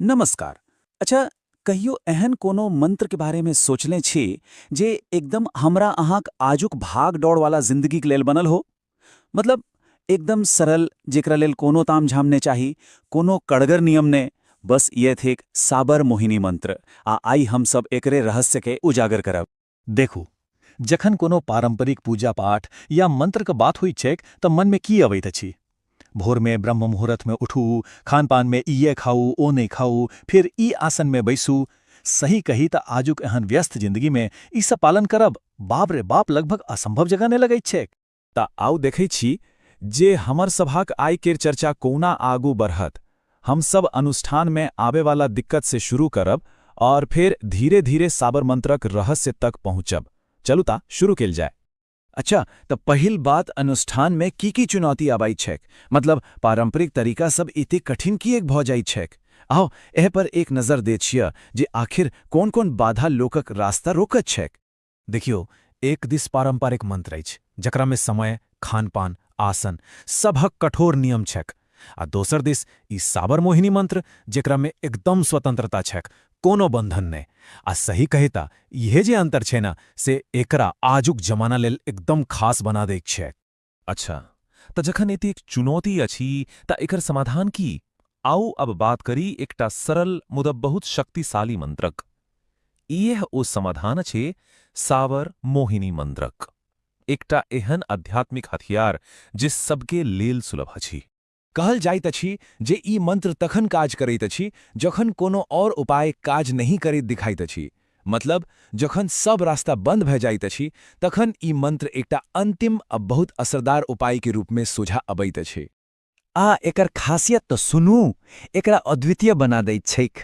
नमस्कार अच्छा कहियो एहन कोनो मंत्र के बारे में सोचले छी जे एकदम हमरा अहाँक आजुक भाग दौड़ वाला जिंदगी के लेल बनल हो मतलब एकदम सरल जेकरा लेल कोनो ताम झाम ने चाही कोनो कड़गर नियम ने बस ये थिक साबर मोहिनी मंत्र आ आई हम सब एकरे रहस्य के उजागर करब देखू, जखन कोनो पारंपरिक पूजा-पाठ या मंत्रक बात होइत छैक त मनमे की अबैत अछि? भोरमे ब्रह्म मुहूर्तमे उठू, खानपानमे इएह खाउ, ओ नहि खाउ, फेर ई आसनमे बैसू। सही कही त आजुक एहन व्यस्त जिंदगीमे ई सब पालन करब, बाप रे बाप, लगभग असंभव जकाँ ने लगैत छैक? तऽ आउ देखै छी जे हमर सभक आइ केर चर्चा कोना आगू बढ़त। हम सब अनुष्ठान में आबे वाला दिक्कत से शुरू करब और फेर धीरे धीरे साबरमंत्रक रहस्य तक पहुँचब। चलू ता शुरू केल जाय। अच्छा तऽ पहिल बात अनुष्ठान में की की चुनौती आबैत छैक? मतलब पारंपरिक तरीका सब एते कठिन किएक भऽ जाइत छैक? आउ एह पर एक नजर दे छिअ जे आखिर कोन कोन बाधा लोकक रास्ता रोकत छैक? देखियौ, एक दिस पारंपरिक मंत्र अछि, जकरा मे समय, खानपान, आसन, सबहक कठोर नियम छैक, आ दोसर दिस ई साबर मोहिनी मंत्र, जेकरा मे एकदम स्वतंत्रता छैक, कोनो बंधन नै। आ सही कही तँ इहे जे अंतर छै ने, से एकरा आजुक जमाना लेल एकदम खास बना दैक छैक। अच्छा तऽ जखन एतेक चुनौती अछि तऽ एकर समाधान की आउ अब बात करी एकटा सरल मुदा बहुत शक्तिशाली मंत्रक इएह ओ समाधान अछि सावर मोहिनी मंत्रक एकटा एहन आध्यात्मिक हथियार जे सबके लेल सुलभ अछि कहल जाइत अछि जे ई मंत्र तखन काज करैत अछि जखन कोनो और उपाय काज नहि करैत दिखाइत अछि। मतलब जखन सब रास्ता बंद भए जाइत अछि तखन ई मंत्र एकटा अंतिम आ बहुत असरदार उपाय के रूप में सोझा अबैत अछि। आ एकर खासियत त सुनू, एकरा अद्वितीय बना दैत छैक।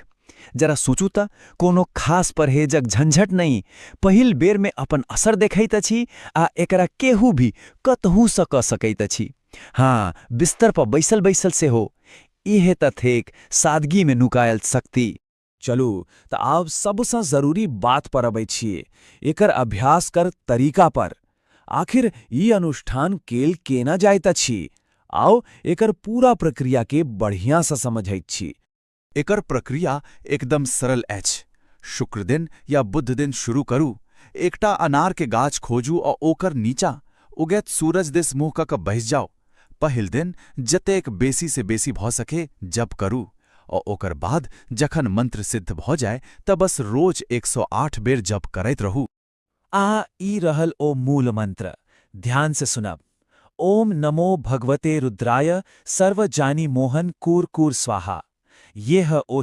जरा सोचू त, कोनो खास परहेजक झंझट नहि, पहिल बेर में अपन असर देखैत अछि आ एकरा केहू भी कतहु स क सकैत अछि। हँ, बिस्तर पर बैसल-बैसल सेहो। इहे त थेक सादगी मे नुकायल शक्ति। चलू त आब सबसँ जरूरी बात पर अबै छी, एकर अभ्यास कर तरीका पर। आखिर ई अनुष्ठान केल केना जाइत अछि? आउ एकर पूरा प्रक्रिया के बढ़ियासँ समझैत छी। एकर प्रक्रिया एकदम सरल अछि शुक्र दिन या बुध दिन शुरू करू एकटा अनार के गाछ खोजू आ ओकर नीचा उगैत सूरज दिस मुँह कऽ कऽ बैस जाउ पहिल दिन जतेक बेसी से बेसी भऽ सके जप करू आ ओकर बाद जखन मंत्र सिद्ध भऽ जाय तऽ बस रोज एक सौ आठ बेर जप करैत रहू आ ई रहल ओ मूल मंत्र ध्यान से सुनब ओम नमो भगवते रुद्राय सर्व जानी मोहन कूर कूर स्वाहा ये ह ओ